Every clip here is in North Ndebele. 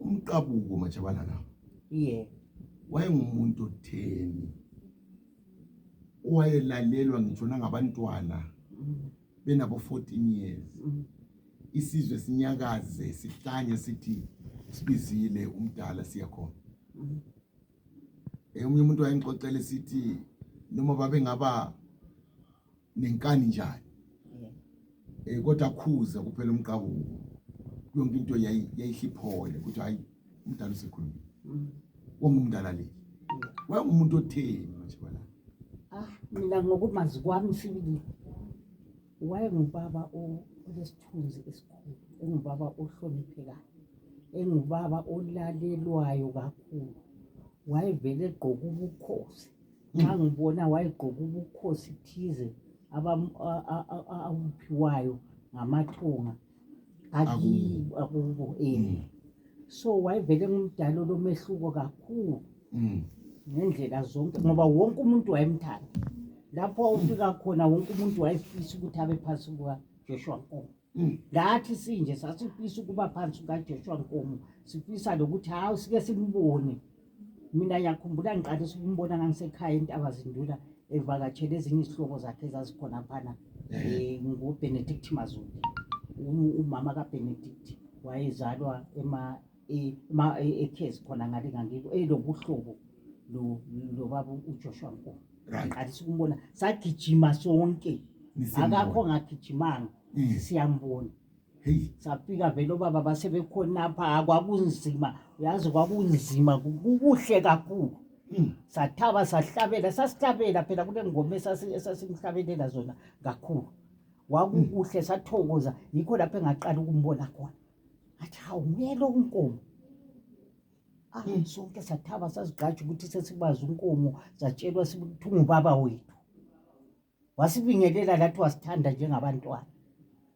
umqabuko matshabalala yeah wayengumuntu otheni owayelalelwa ngitsho nangabantwana mm. benabo 14 years mm. isizwe sinyakaze sihlanye sithi sibizile umdala siyakhona mm. eh, omunye umuntu wayengixoxele sithi noma babengaba nenkani njani eh kodwa khuza kuphela umqabuko yonke into yayihliphole ukuthi hayi umdala usekhulumile mm. wangumdala le mm. wayengumuntu otheni manje bala ah mina ngokumazi kwami sibili wayengubaba olesithunzi esikhulu engubaba ohloniphekayo engubaba olalelwayo kakhulu wayevele egqoka ubukhosi nxa ngibona wayegqoka ubukhosi thize abam- a- a- a- a- abuphiwayo ngamathunga Akubo. akibo akubo eh Mm. so wayevele ngumdala olomehluko kakhulu Mm. ngendlela zonke ngoba wonke umuntu wayemthanda lapho ufika khona wonke umuntu wayefisa ukuthi abe phansi kukajoshua nkomo Mm. lathi sinje sasifisa ukuba phansi kukaJoshua Nkomo sifisa lokuthi hawu sike simbone mina yakhumbula ngiqalisa ukumbona ngangisekhaya intaba zindula evakatshele ezinye izihlobo zakhe ezazikhona phana eh. um ngubenedict mazulu umama kabenedict wayezalwa eh, ma eh, ekhezi khona ngale ngangiko elobuhlobo lo- lobaba ujoshua nkulu right ngaqalisa ukumbona sagijima sonke Nisembona. akakho ngagijimanga Mm. siyambona hey safika vele obaba basebekhonapha kwakunzima uyazi kwakunzima ku- kukuhle kakhulu Mm. sathaba sahlabela sasihlabela phela kule ngoma esasi- esasimhlabelela zona kakhulu wakukuhle sathokoza yikho lapho engaqala ukumbona khona awumele unkomo mm. sonke sathaba sazigqaja ukuthi sesibazi unkomo zatshelwa ukuthi ungubaba wethu wasibingelela lathi wasithanda njengabantwana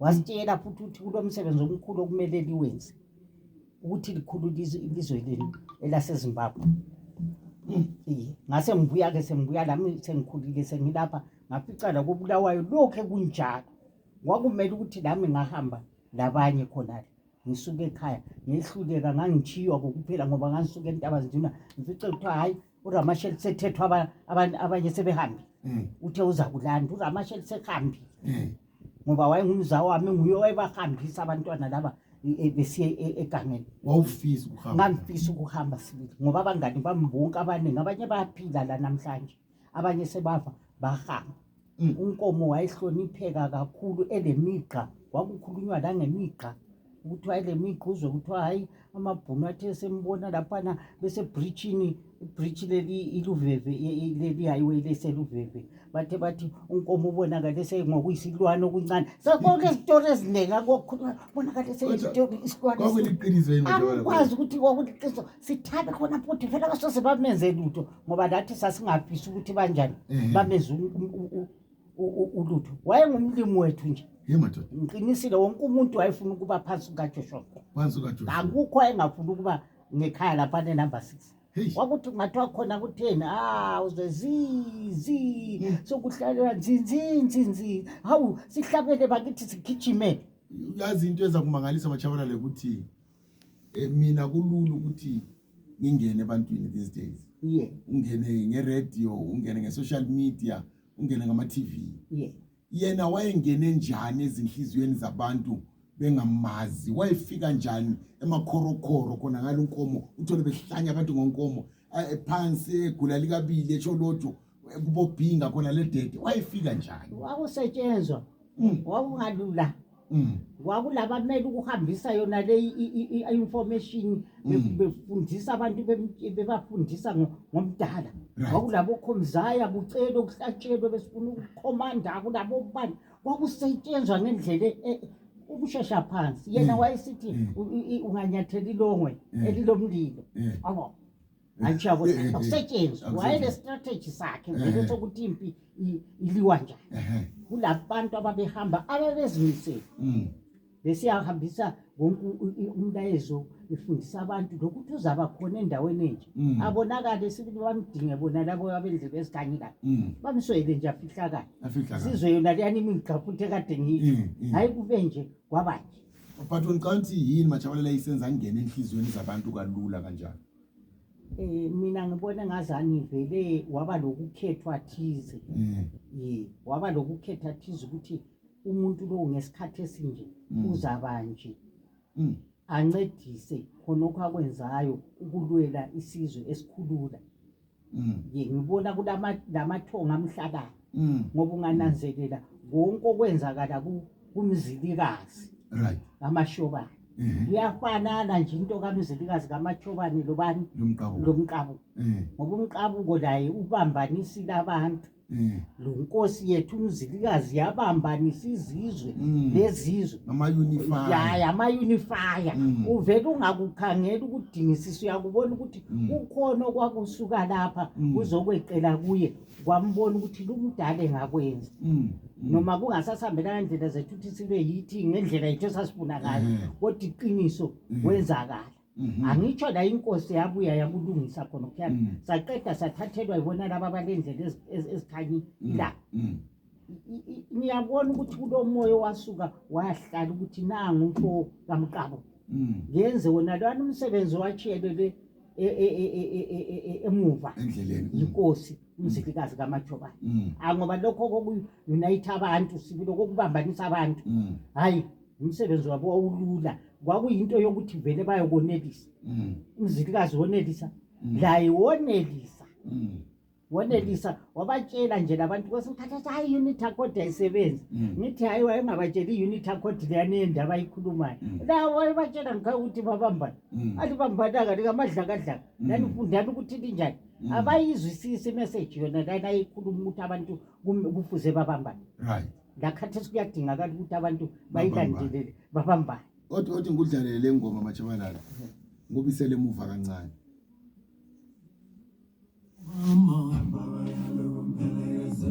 wasitshela futhi ukuthi kulo msebenzi omkhulu okumele liwenze ukuthi likhulu ilizwe lenu elasezimbabwe mm. ngase ngibuya ke sengibuya lami sengikhulile sengilapha ngafica lakobulawayo lokhu ekunjalo kwakumele ukuthi lami ngahamba labanye khonale ngisuke ekhaya ngehluleka ngangitshiywa kokuphela ngoba ngangisuke entaba zinduna ngifice kuthiwa hhayi uramasheli sethethwa aba- aban- abanye sebehambile Mm. uthe uza kulanda uramasheli sehambile Mm. ngoba wayengumzawo wami nguye owayebahambisa abantwana laba e- e- besiye e- egangeni wawufisa ukuhamba ngangifisa ukuhamba sibili ngoba abangani bami bonke abaningi abanye bayaphila la namhlanje abanye sebava bahamba mm. unkomo wayehlonipheka kakhulu elemigqa kwakukhulunywa langemigqa ukuthi wayelemigqa uzwe kuthiwa hhayi amabhunu athe sembona laphana besebritshini ibritshi leli iluveve leli highway leseluveve bathe bathi unkomo ubonakale sengokuyisilwane okuncane sakonke izitori eziningi akokhuluma ubonakale seyisilwane isilwaneangikwazi ukuthi kwakuliqiniso sithabe khona futhi phela basose bamenze lutho ngoba lathi sasingafisi ukuthi banjani Ehe. bamenze u- u- u- u- u- ulutho wayengumlimi wethu nje ye madoda ngiqinisile wonke umuntu wayefuna ukuba phansi kukajoshua phansi ukajoshua akukho ayengafuni ukuba ngekhaya lapha nenumber six heyi wakuthi kungathiwa khona kutheni a uze zizi sokuhlalela nzinzinzinzi hawu sihlabele bakithi sigijime uyazi into eza kumangalisa batshabalale ukuthi eh, mina kulula ukuthi ngingene ebantwini these days yeah ungene ngeradio ungene ngesocial media ungene ngama-tv yeah yena wayengene njani ezinhliziyweni zabantu bengamazi wayefika njani emakhorokhoro khona ngalo nkomo uthole behlanya abantu ngonkomo eh, phansi egula likabili etsho lotho kubobhinga khona le dede wayefika njani wakusetshenzwa Mm. wakungalula Mm. kwakulabamele ukuhambisa yona le i- i- i- information be- Mm. befundisa abantu bem- bebafundisa ngo- ngomdala Right. kwakulabokhomzaya kucelwe kuhlatshelwe besifuna ukukhomanda kulabobani kwakusetshenzwa ngendlela e- e- ukushesha phansi yena Mm. wayesithi Mm. u- i- i- unganyathela ilongwe Mm. elilomlilo Yeah. abo angisho ukuthi akusetshenzwa wayele strategy sakhe ngeke sokuthi impi iliwa njani kulabantu ababehamba ababezimisele mm. besiyahambisa wonke umlayezo befundisa abantu lokuthi uzaba khona endaweni enje mm. abonakale sibili bamdinge bona labo abenze bezikanyekayo mm. bamswele nje afihlakale sizwe yona leyani imingigqaphuthe kade ngiyo hhayi kube nje kwabanje but ngicabanga ukuthi yini majabalela isenza ngingena enhliziyweni zabantu kalula kanjani Eh, mina ngibona ngazani vele waba lokukhethwa thize Mm. ye waba lokukhetha thize ukuthi umuntu lowo ngesikhathi esinje Mm. uzaba nje Mm. ancedise khonokho akwenzayo ukulwela isizwe esikhulula Mm. ye ngibona kulama- lamathongo amhlakayo Mm. ngoba ungananzelela konke okwenzakala ku- kumzilikazi Right. kamashobane Eh. kuyafanana nje into kamzilikazi kamashobane lobani Lomqabo. lomqabuko Eh. ngoba umqabuko laye ubambanisile abantu Mm. lo nkosi yethu umzilikazi yabambanisa izizwe Mm. lezizwe ama ya unify yamayunifaya Mm. uvele ungakukhangeli ukudingisisa uyakubona ukuthi Mm. kukhona okwakusuka lapha Mm. kuzokweqela kuye kwambona ukuthi lumdala engakwenza Mm. Mm. noma kungasasihambelanga ndlela zethu ukuthi sibe yithi ngendlela yethu esasifuna ngayo Mhm. kodwa iqiniso Mm. kwenzakala Mhm. angitsho la inkosi yabuya yakulungisa khona kuyana mm. saqeda sathathelwa yibona laba balendlela ezikhanyi mm. la mm. ngiyabona ukuthi kulomoya owasuka wahlala ukuthi nangu umfo kamqabo ngenze wona lwana umsebenzi owatshiyelele e, e, e, emuva yinkosi umzilikazi kamajobayo angoba lokho kokunayitha abantu sibulokokubambanisa abantu hayi umsebenzi wabo wawulula kwakuyinto yokuthi vele bayokonelisa mm. umzilikazi wonelisa mm. laye wonelisa mm. wonelisa wabatshela nje labantu kwesimkhathathi hayi i-unit accord ayisebenzi ngithi hayi wayengabatsheli i-unit accord leyani yendaba ayikhulumayo la wayebatshela ngikhaye ukuthi babambane alibambananga likamadlakadlaka nanifundani ukuthi linjani abayizwisisi imeseji yona lana ayikhuluma ukuthi abantu kufuze babambane lakhathesi kuyadingakala ukuthi abantu bayilandelele babambane othi othi ngikudlalele le ngoma matshabalala ngubisele emuva kancane Mama, Mama.